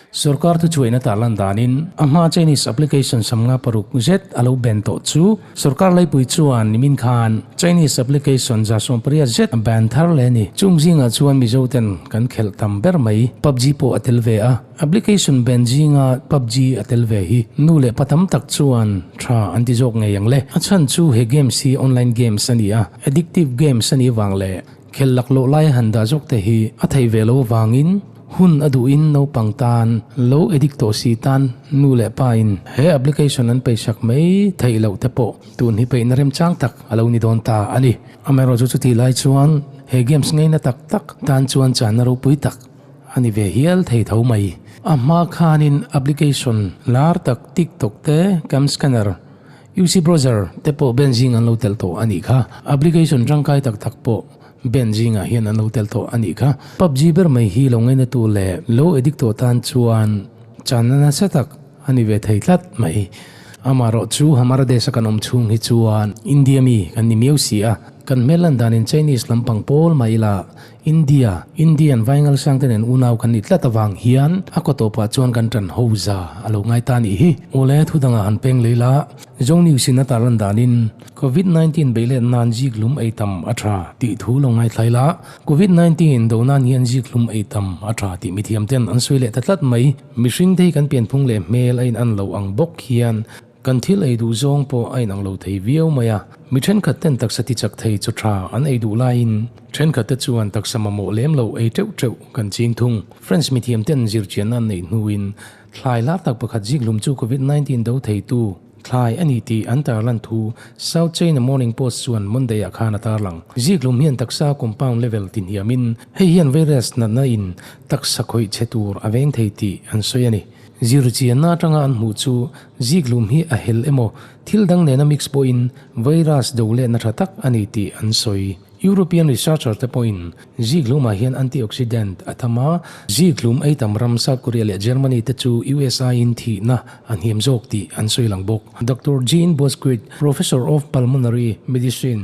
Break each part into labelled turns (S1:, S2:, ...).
S1: Sorkar thu chuaina tah lan danin a hma Chinese application sam nga paruk zet a lo ban tawh chu sorkar laipui chuan nimin khan Chinese application zasawm pariat zet a ban thar leh a ni. Chung zingah chuan Mizoten kan khelh tam ber mai, pubg pawh a tel ve a. Application ban zinga pubg a tel ve hi nu leh pa tam tak chuan tha an ti zawk ngei ang le. A chhan chu he games hi online games a ni a, addictive games a nih vang leh khel lak loh laia han dah zawk te hi a thei ve lo avangin hun a duh in naupang tan lo addict tawh si tan nu leh pa in he application an pei hrak mai theih loh te pawh tun hi peihna remchang tak a lo ni dawn ta a ni. Amaherawhchu chutih lai chuan he games ngeina tak tak tan chuan chahna ropui tak A ni ve hial thei tho mai. A hma khanin application lar tak TikTok te, Cam Scanner, UC Browser te pawh ben zing an lo tel tawh a nih kha. Application tangkai tak tak pawh ben zingah hian an lo tel tawh a nih kha. Pubg ber mai hi lo ngainatu leh lo addictu tan chuan channa nasa tak a ni ve thei tlat mai. Amaherawh chu Hamara Desh a kan awm chhung hi chuan India mi kan ni miau si a, kan hmel lan danin Chinese lampang pawl mah ila India, Indian vaingal siangte nen unau kan ni tlat avang hian a kaw tawh pah chuan kan tan ho za a lo ngai ta nih hi. Awle, thu dangah han peng lei la, Zong News in a tar lan danin Covid nineteen beih let nan zik hlum ei tam a tha tih thu lo ngaithlai la, Covid nineteen do nan hian zik hlum ei tam a tha tih mithiam ten an sawi leh ta tlat mai. Mihringte hi kan pianphung leh hmel a in an lo ang bawk hian, Kan thil ei duh zawng pawh a inang lo thei viau mai a, mi thenkhat ten taksa ti chak thei chu tha an ei duh laiin thenkhat te chuan taksa mamawh lem lo ei teuh teuh kan ching thung. Friends mithiam ten zirchianna an neih hnuin thlai hlar tak pakhat zik hlum chu Covid nineteen do thei tu thlai a ni tih an tarlan thu South China Morning Post chuan Monday ah khan a tarlang. Zik hlum hian taksa compound level ti hniamin hei hian virus natna in taksa khawih che tur a veng thei tih an sawi a ni. Zir chianna atanga an hmuh chu ziklum hi a hel emaw thil dang nena mix pawhin virus do lehna tha tak a ni tih an sawi. European researcher te pawhin ziklumah hian antioxidant a tam a, ziklum ei tam ram South Korea leh Germany te chu USI-in thihna a hniam zawk tih an sawi lang bawk. Doctor Jean Bosquit, Professor of Pulmonary Medicine,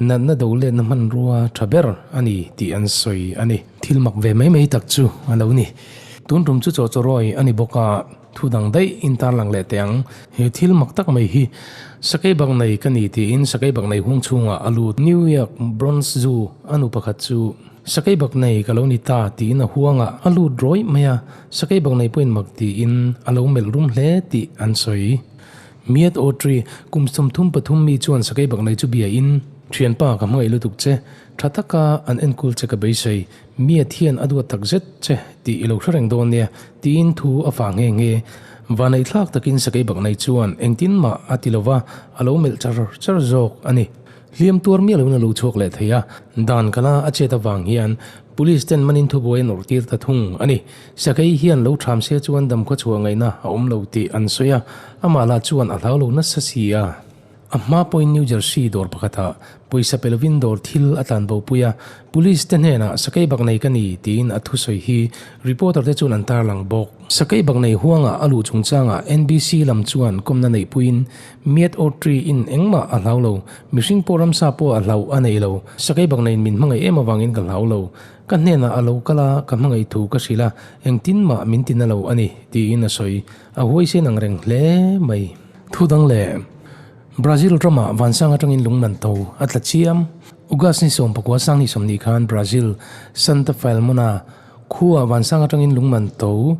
S1: Natna do letna hmanrua tha ber a ni tih an sawi a ni. Thil mak ve mai mai tak chu a lo ni. Tun tum chu chaw chaw rawi a ni bawk a, thu dang daih in tarlang leh teh ang. He thil mak tak mai hi sakei bak nei ka ni tiin sakei bak nei hung chhungah a lut. New York Bronx Zoo a nu pakhat chu sakei bak nei ka lo ni ta tiin a huang a, a lut rawih mai a, sakei bak nei pawhin mak tiin a lo melh rum hle tih an sawi. Miat aw Tri, kum sawmthum pathum mi chuan sakei bak nei chu biain, Thianpa ka hmangaih lutuk che, tha taka an enkul che ka beisei, Miat hian a duat tak zet che tih i lo hre reng dawn nia tiin thu a fah nghe nghe. Vanei thlak takin sakei bak nei chuan engtin mah a ti lova a lo melh char char zawk a ni. Hliam tuar miah lohna lo chhuak leh thei a, dan kala a chet avang hian, Police ten manin thubuai a nawrh tir ta thung a ni. Sakei hian lo tham sia chuan damkhaw chhuah ngaihna a awm lo tih an sawi a, amah lah chuan a hlau lo nasa si a. A hma pawhin New Jersey dawr pakhatah pawisa pe lovin dawr thil a tlan bo pui a, Police te hnenah sakei bak nei ka ni tiin a thusawi hi reporter te chuan an tarlang bawk. Sakei bak nei huanga a luh chungchangah NBC lam chuan kawmna neih puiin Miat or tree in engmah a hlau lo, mihring pawh ramsa pawh a hlauh a nei lo. Sakei bakna in min hmangaih em avangin ka hlau lo. Ka hnenah a lo kal a, ka hmangaih thu ka hrilh a, engtin mah min ti na lo a ni, tiin a sawi. A huai sen ang reng hle mai. Thu dang leh. Brazil ramah vansang atangin lungnan tho a tla chiam. August ni sawm pakua sang ni sawm ni khan Brazil, Santa Filmona, khuaa vansang atangin lungnan tho.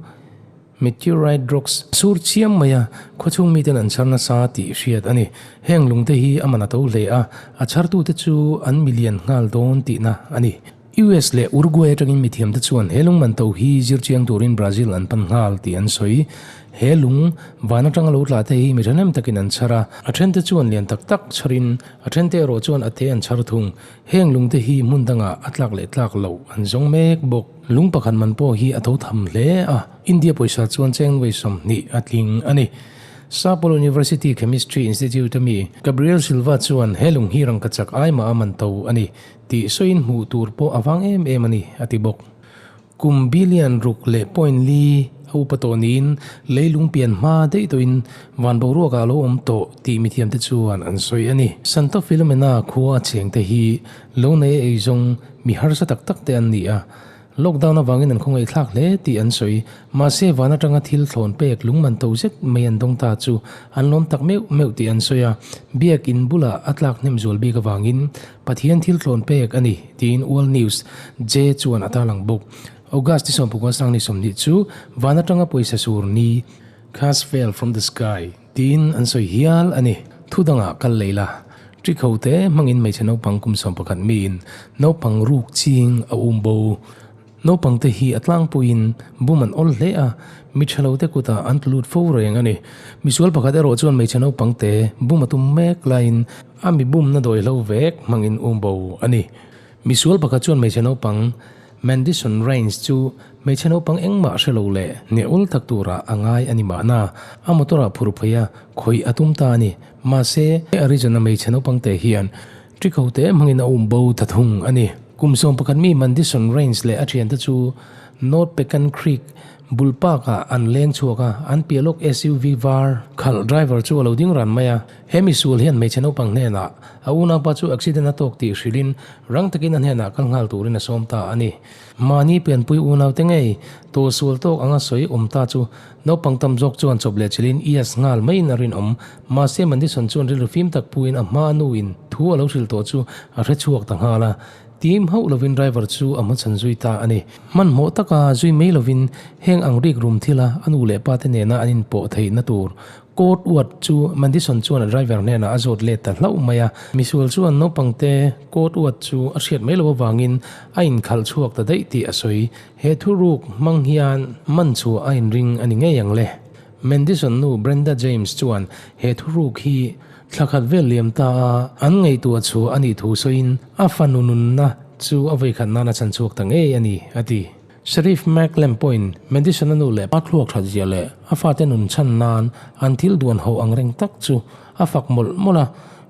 S1: Meteorite rocks, sur chiam maia khuachhung miten an chhar nasa tih hriat a ni. Heng lungte hi a man a to hle a, a chhartute chu an milian nghal dawn tihna a ni. US leh Uruguay atangin mithiamte chuan he lungman to hi zir chiang turin Brazil an pan nghal tih an sawi. He lung van atanga lo tlate hi mi thahnem takin an chhar a, a thente chuan lian tak tak chharin a thente erawh chuan a te an chhar thung. Heng lungte hi hmun dangah a tlak leh tlak loh an zawng mek bawk. Lung pakhat man pawh hi a tho tham hle a, India pawisa chuan Cheng Wei sawmhnih a tling a ni. Sapporo University Chemistry Institute a mi Gabriel Silva chuan he lung hi rangkachak ai mah a man to a ni tih sawiin hmuh tur pawh a vang em em a ni a ti bawk. Kum billion ruk leh point li a upa tawh niin leilung pian hma daihdawihin van boruakah a lo awm tawh tih mithiamte chuan an sawi a ni. Santo Filomena khua a chengte hi lo nei a ei zawng mi harsa tak tak te an ni a, lockdown avangin an khawngaihthlak hle tih an sawi. Mahse van atanga thil thlawn pek lungman to zet mai an dawng ta chu an lawm tak meuh meuh tih an sawi a, biakin bulah a tlak hnemzual bik avangin Pathian thil tlawn pek a ni, tiin World News, je, chuan a tarlang bawk. August ti sawmpakua a sang ni sawmhnih chu van atanga pawisa sur ni. Cars fell from the sky, tiin an sawi hial a ni. Thu danga kal lei la, ṭi kho te hmangin hmeichhe naupang kum sawmpakhat miin naupang ruk ching a um bo. Naupangte hi a tlangpuiin bum an awl hle a, mi thalote kuta an tlu lut fo reng a ni. Misual pakhat erawh chuan hmeichhe naupangte bum a tum mek laiin a mi bumna dawihlo vek hmangin um bo a ni. Misual pakhat chuan hmeichhe naupang Mandison Raines chu hmeichhe naupang engmah hrelo leh ngeul tak turah a ngai a ni mahna, a motor-ah phur phei a khawih a tum ta a ni. Mahse, Arizona hmeichhe naupangte hian Ṭikho te hmangin a um bo ta thung a ni. Kum sawm pakhat mi Mandison Rains leh a ṭhiante chu North Pecan Creek bul parkah an leng chhuak a, an piah lawk SUV var khalh driver chu a lo ding ran mai a. He misual hian hmeichhe naupang hnenah a unaupa chu accident a tawk tih hrilhin rang takin a hnenah kal nghal turin a sawm ta a ni. Mahni pianpui unaute ngei tur sual tawk anga sawi awm ta chu naupang tam zawk chuan chawp leh chilh in yes nghal maiin a rinawm. Mahse Mandison chuan rilru fim tak puin a hma a nu in thu a lo hrilh tawh chu a hre chhuak ta nghal a. Tim hauh lovin driver chu a hmachhan zui ta a ni. Hmanhmawh taka zui mai lovin heng ang rik rum thila a nu leh pa te nena an inpawh theihna tur Court uat chu Madison chuan a driver hnenah a zawt let ta hlauh mai a. Misual chuan naupangte court uat chu a hriat mai lo avangin a inkhalh chhuak ta daih tih a sawi. He thu ruk hmang hian Manchua a inring a ni ngei ang le. Mandison nu Brenda James chuan he thu ruk hi thla khat vel liam ta a an ngaihtuah chhuah a nih thu sawiin a fanu nunna chu a vawi khat nan a chhan chhuak ta ngei a ni, a ti. Sheriff Mac Lem pawhin Madison a nu leh pa thluak ṭhatzia leh a fate nun chhan nan an thil duan haw ang reng tak chu a fak mawlh mawlh a,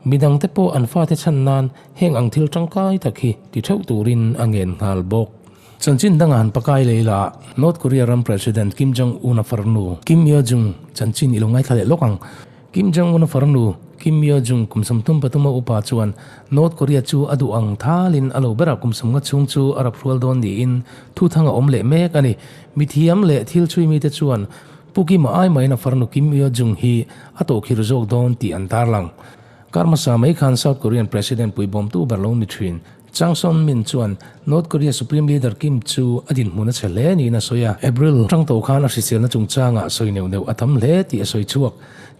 S1: midang te pawh an fate chhan nan heng ang thil ṭangkai tak hi ti ṭheuh turin a ngen nghal bawk. Chanchin danga han pakai lei la a, North Korea ram President Kim Jong Un a farnu Kim Yo Jung chanchin i lo ngaithla leh lawk ang. Kim Jong Un-a far nu, Kim Yo Jung kum sawm tum patuma upa chuan North Korea chu a duh ang thalin a lo ber a, kum sawm nga chhung chu a rap hrual dawn niin thu thang a awm leh mek a ni. Mithiam leh thil chhui mite chuan Pu Kim-a ai mahin a far nu Kim Yo Jung hi a tawhkhir zawk dawn tih an tarlang. Karmasa mai khan South Korean President pui bawmtu ber lo ni thin Chang Song-min chuan North Korea Supreme Leader Kim chu a dinhmun a chhe hle niin a sawi a, April tangtawh khan a hriselna chungchangah sawi neuh neuh a tam hle tih a sawi chhuak.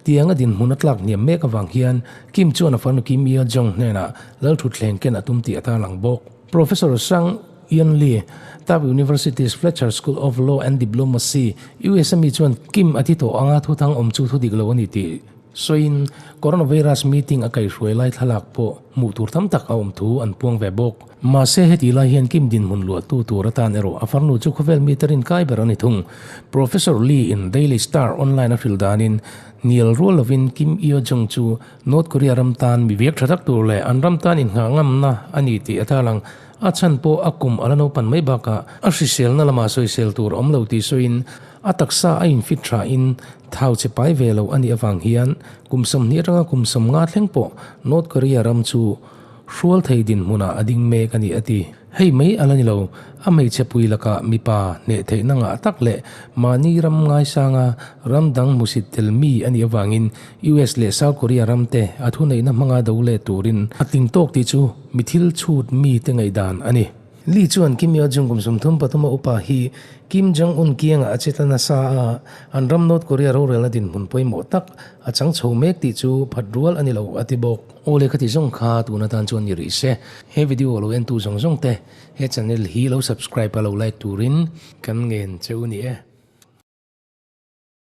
S1: Tiang a dinhmun a tlak hniam mek avang hian Kim chuan a fanu Kim Yo Jong hnenah lal thutthleng ken a tum tih a tarlang bawk. Professor Sang Eun Lee, Tufts University's Fletcher School of Law and Diplomacy, usa mi chuan Kim a ti tawh anga thuthang awm chu thudik lo a ni tih, Sawiin, Coronavirus meeting a kaihhruai lai thlalak pawh hmuh tur tam tak a awm thu an puang ve bawk. Mahse, heti lai hian Kim dinhmun luahtu tur atan erawh a farnu chu khawvel mite rinkai ber a ni thung. Professor Lee-in Daily Star Online a hrilh danin, Nial rual lovin Kim Yo-jong chu North Korea ram tan mi biak tha tak tur leh an ram tan innghah ngamna a ni tih a tar ang. A chhan pawh a kum a la naupan mai bakah a hriselna lamah sawisel tur a awm lo tih sawiin, a taksa a infit thain, Thau che pai ve lo a nih avang hian kum sawmhnih atanga kum sawmnga thleng pawh North Korea ram chu hrual thei dinhmunah a ding mek a ni a ti. Hei mai a la ni lo, a hmeichhepui lakah mipa hneh theihna ngah tak leh mahni ram ngaisanga ram dang hmusit tel mi a nih avangin US leh South Korea ramte a thuneihna hmanga do let turin a tling tawk tih chu mithil chhut mite ngaihdan a ni. Lee chuan Kim Yo Jung kum sum thum patuma upa hi Kim Jong Un kiangah a cheta nasa a, an ram North Korea rorelna dinhmun pawimawh tak a chang chho mek tih chu phat rual a ni lo a ti bawk. Awle ka ti zawng kha tuna tan chuan ni rih se, he video lo entu zawng zawng te he channel hi lo subscribe a lo like turin kan ngen cheu ni e.